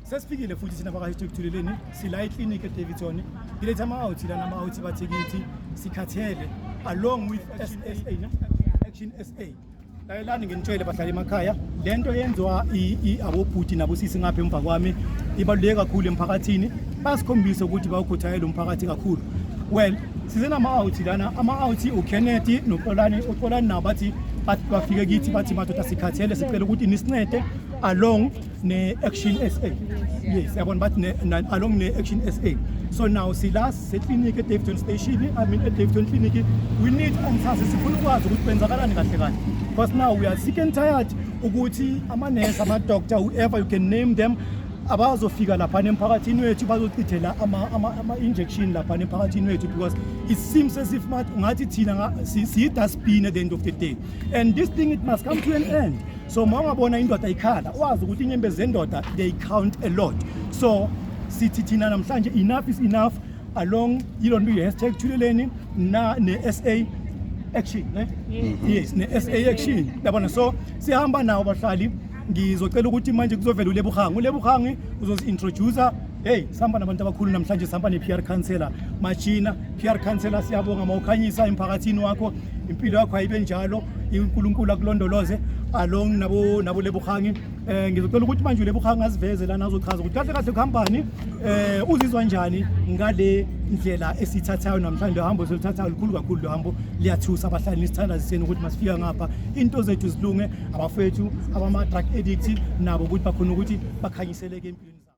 sesifikile futhi thina bakahistokutheleleni sila eclinic edavidson ngiletha ama-outhi lana ama-outhi bathikithi sikhathele along with sa action sa layelani nginitshele bahlala emakhaya le nto yenziwa abobhuti nabosisi ngapha emva kwami ibaluleke kakhulu emphakathini basikhombise ukuthi bawukhuthayela umphakathi kakhulu well size nama-out lana ama-out ukennedy noxolani uxolani nabo bathi bafike kithi bathi madoda sikhathele sicela ukuthi nisincede along ne-action sa yes yabona bathi ne- na- along ne-action sa so now sila seclinic edavton station i mean edavton clinic we need answers sifuna ukwazi ukuthi kwenzakalani kahle kahle because now we are sick and tired ukuthi amanesi amadoctor whoever you can name them abazofika laphana emphakathini wethu bazochithela ama- ama- ama-injection laphana emphakathini wethu because it seems as if ngathi thina nga- si- siyi-dustbin at the end of the day and this thing it must come to an end so uma ungabona indoda ikhala wazi ukuthi inyembezi zendoda they count a lot so sithi thina namhlanje enough is enough along yilo nto ye-hashtag thuleleni na ne-sa action ne mm-hmm. yes ne-sa action yabona so sihamba nawo bahlali ngizocela ukuthi manje kuzovela ulebuhangi ulebuhangi uzozi-introducer Hey, sihamba nabantu abakhulu namhlanje sihamba ne-PR counselor Machina. PR counselor siyabonga mawukhanyisa emphakathini wakho. Impilo yakho ayibe njalo. uNkulunkulu akulondoloze along nabo nabo lebuhangi. Eh ngizocela ukuthi manje lebuhangi aziveze lana azochaza ukuthi kahle kahle kuhambani eh uzizwa njani ngale ndlela esithathayo namhlanje hambo selithathayo likhulu kakhulu lo hambo liyathusa abahlali nisithanda siseni ukuthi masifika ngapha into zethu zilunge abafethu abama drug addict nabo ukuthi bakhona ukuthi bakhanyiseleke empilweni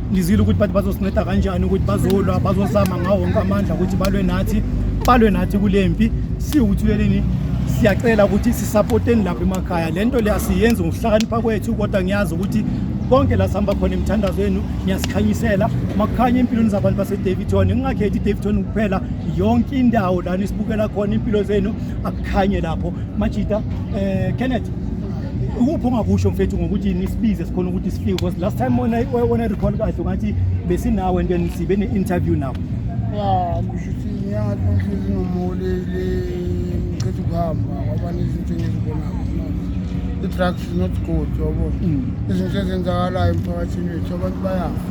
ngizile ukuthi bathi bazosinceda kanjani ukuthi bazolwa bazozama ngawo wonke amandla ukuthi balwe nathi balwe nathi kule mpi siwuthuleleni siyacela ukuthi sisapoteni lapha emakhaya le nto le asiyenzi ngokuhlakanipha kwethu kodwa ngiyazi ukuthi konke la sihamba khona emthandazweni ngiyasikhanyisela makukhanya empilweni zabantu basedavidton ngingakhethi idavidton kuphela yonke indawo lana isibukela khona impilo zenu akukhanye lapho majita um eh, kenneth ukuphi ongakusho mfethu ngokuthi nisibize sikhona ukuthi sifike because last time wena wena recall kahle ngathi besinawe and then sibe ne-interview nawo ya ngisho ukuthi inyanga tonhlezi nomholele ngichetha ukuhamba kwaba nezinto engizibonayo i-drugs is not good yabo mm. izinto ezenzakalayo emphakathini wethu abantu bayafa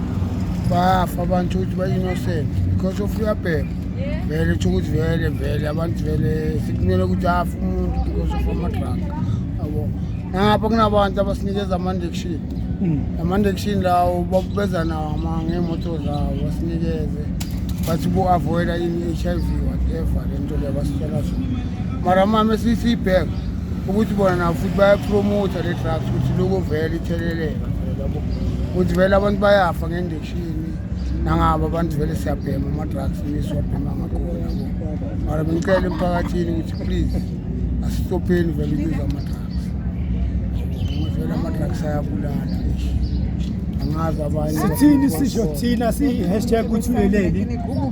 bayafa abantu ukuthi ba-innocent because of uyabheka vele tsho ukuthi vele vele abantu vele sikumele ukuthi afe umuntu because of amadrug yabo nangapha kunabantu abasinikeza amandection hmm. amandection lawo babeza nawo ngeemoto zawo basinikeze bathi bo-avoida ini i-h i v whatever le nto leyo basitshela zona mara mama esiyisiyibheka ukuthi bona nabo futhi bayapromotha le drugs ukuthi loko vele itheleleka ukuthi vele abantu bayafa ngendeki nangabo abantu vele siyabhema ama-drugs nisiwabhema ngakhona mara bengicela emphakathini ukuthi please asistopheni vele ukuza ama-drugs vele ama-drugs ayabulala angazi abanye sithini sisho thina siyi-hashtag ukuthi uleleni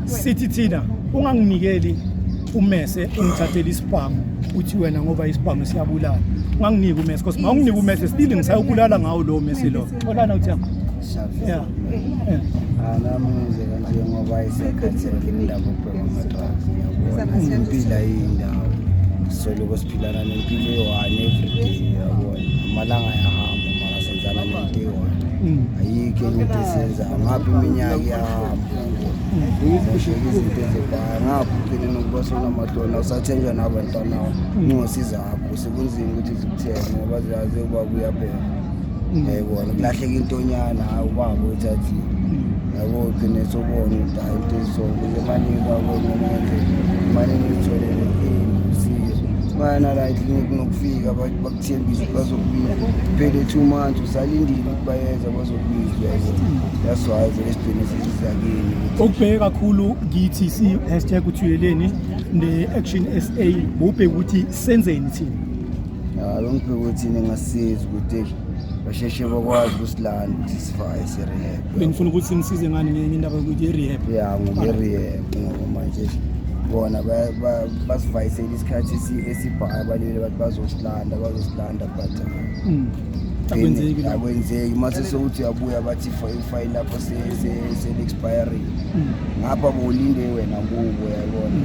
sithi thina unganginikeli umese ungithathele isibhamu uthi wena ngoba isibhamu siyabulala unganginiki umese cause ma unginiki umese still ngisayobulala ngawo lowo mese lowo Xolana uthi yakho. Yeah. Anamuze kanje ngoba isekhathini indaba ubheka amadrugs ngiyabona. Impila yindawo. Soloko siphilana nempilo eyi-one everyday yabona. Amalanga ayahamba mara senzana nento eyi-one. Mm. Ayikho enye into esiyenzayo. Ngapha iminyaka iyahamba. Zashiyeka izinto ezibhayo. Ngapha ugcine nokuba sonamahloni awusathenjwa nabantwana. Ungosiza akho sekunzima ukuthi zikuthenge ngoba ziyazi ukuba kuyabheka. yayibona kulahleka intonyana hayi ubaba uthathi yabo gcine sobona ukuthi hayi into ezisonke lemanini kwakonamanje imane nizitholele usizo bayanala eklinik nokufika bakuthembisa ukuthi bazokubiza phele two months usalindile ukuthi bayeza bazokubizwa that's why vele sigcine sesizakini okubheke kakhulu kithi si-hashtag uthuyeleni ne-action sa bubheke ukuthi senzeni thina Hayi ngibheka ukuthi ningasiza ukuthi basheshe bakwazi ukusilanda ukuthi sifaye si-rehab. Bengifuna ukuthi nisize ngani ngenye indaba yokuthi i-rehab. Ya ngobe-rehab ngoba manje bona basivayisele isikhathi esibhayo abalile bathi bazosilanda bazosilanda but hmm. akwenzeki akwenzeki uma sesewuthi uyabuya bathi ifayili lapho seli-expiring hmm. ngapha bolinde wena kubo yabona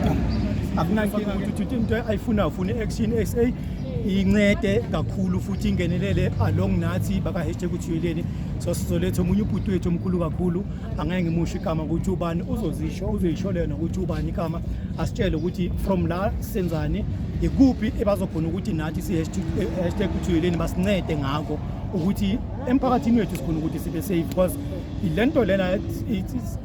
hmm. akunankinga Uthuthi into ayifuna ufuna action SA incede kakhulu futhi ingenelele along nathi baka hashtag uthuyeleni so sizoletha omunye ubhuti wethu omkhulu kakhulu angeke ngimusho igama ukuthi ubani uzozisho uzoyisho lena ukuthi ubani igama asitshele ukuthi from la senzani ikuphi ebazokhona ukuthi nathi si hashtag uthuyeleni basincede ngako ukuthi emphakathini wethu sikhona ukuthi sibe safe because le nto lena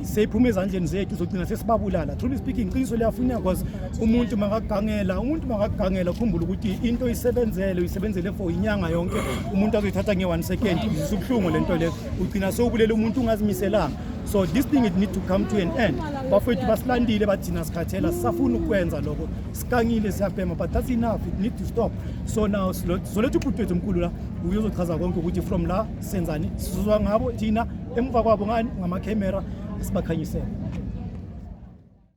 seyiphuma ezandleni zethu sogcina sesibabulala truly speaking iqiniso liyafuneka because umuntu makagangela umuntu makagangela ukhumbula ukuthi into isebenzele uyisebenzele for inyanga yonke umuntu azoyithatha nge-one second izisa ubuhlungu le nto leyo ugcina sowubulele umuntu ungazimiselanga so this thing it need to come to an end bafowethu basilandile bathina sikhathela sisafuna ukwenza lokho sikangile siyabhema but that's enough it need to stop so now soletha ubhuti wethu omkhulu la uyozochaza konke ukuthi from la senzani sizozwa ngabo thina emuva kwabo ngani ngamakhemera sibakhanyisele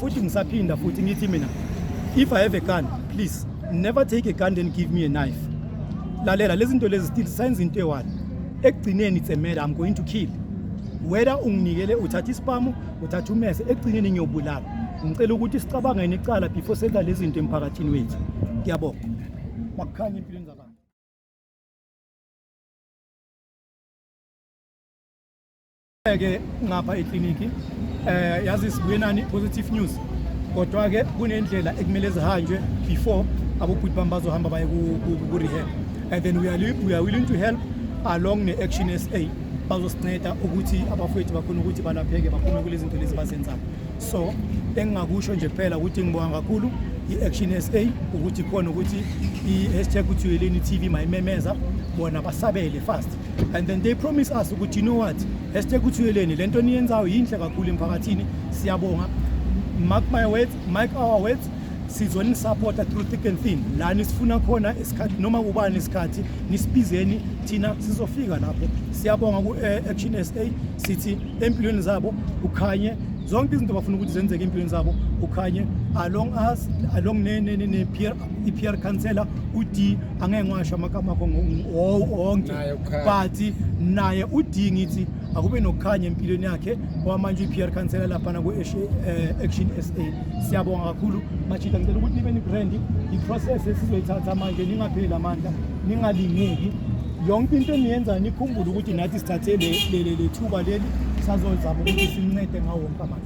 futhi ngisaphinda futhi ngithi mina if i have a gun please never take a gun then give me a knife lalela lezi zinto lezi still senza into eyi-one ekugcineni it's a matter i'm going to kill whether unginikele uthatha isipamu uthatha umese ekugcineni ngiyobulala ngicela ukuthi sicabange necala before senza lezi zinto emphakathini wethu ngiyabonga makukhanye empilweni zabantu ke ngapha ekliniki eh yazi sibuye nani positive news kodwa ke kunendlela ekumele zihanjwe before abobhuti bami bazohamba baye ku rehab and then we are, we are willing to help along ne action SA bazosinceda ukuthi abafowethu bakhona ukuthi balapheke baphume kulezi zinto lezi bazenzayo so engingakusho nje kuphela ukuthi ngibonga kakhulu i-action s a ukuthi khona ukuthi i-hashtag uthuyeleni t v mayimemeza bona basabele fast and then they promise us ukuthi you know what hashtag uthuyeleni le nto niyenzayo yinhle kakhulu emphakathini siyabonga mark my words mark our words sizonisapota through thick and thin la nisifuna khona isikhathi noma kubani isikhathi nisibizeni thina sizofika lapho siyabonga ku-action eh, sa sithi empilweni zabo ukhanye zonke izinto bafuna ukuthi zenzeke empilweni zabo ukhanye along us along ne-peer i-PR councillor uD angeke ngiwasho amagama akho wonke but naye uD ngithi akube nokukhanya empilweni yakhe kwamanje i-PR councillor laphana ku-action eh, sa siyabonga kakhulu machida ngicela ukuthi nibe nibrandi i-process esizoyithatha manje ningapheli amandla ningalingeki yonke into eniyenzayo nikhumbule ukuthi nathi sithathe le thuba leli sazozama ukuthi simncede ngawo wonke amandla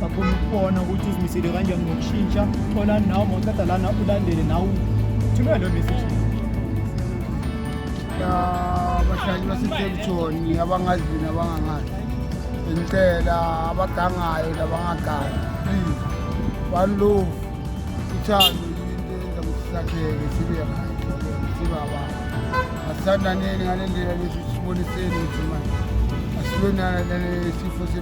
bakhona ukubona ukuthi uzimisele kanjani ngokushintsha thola nawo mawuqeda lana ulandele nawo thumela lo message abadlali basetelitshoni abangazi nabangangazi ngicela abagangayo nabangagangi please one love uthando yinto enza ukuthi sakheke sibe right sibe abantu asithandaneni ngale ndlela lesi siboniseni ukuthi manje asilonana nalesifo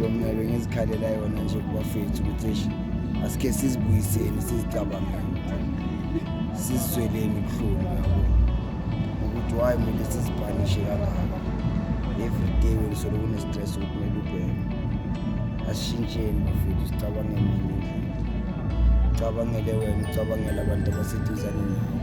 Mina bengizikhalela yona nje kubafethu ukuthi eish asike sizibuyiseni sizicabangele sizizweleni ubuhlungu yabo ukuthi why kumele sizibhanishe kangaka every day welisolo kune-stress ukuthi kumele ubheke asishintsheni bafethu sicabangele ngenye indlela ucabangele wena ucabangele abantu abaseduzane nawe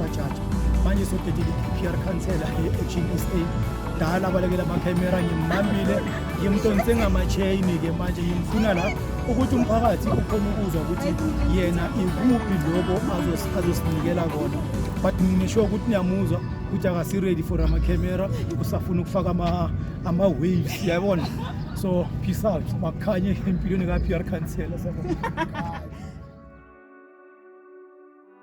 Bajaji manje sodedile i-PR Council e-Action SA dala abalekela amakhemera ngimbambile ngimdonse ngama-chain-ke manje ngimfuna la ukuthi umphakathi ukhona ukuzwa ukuthi yena ikuphi loko azosinikela kona but ngisho ukuthi niyamuzwa ukuthi akasi-ready for amakhemera usafuna ukufaka ama-waves yayibona so peace out makukhanye empilweni ka-pr councela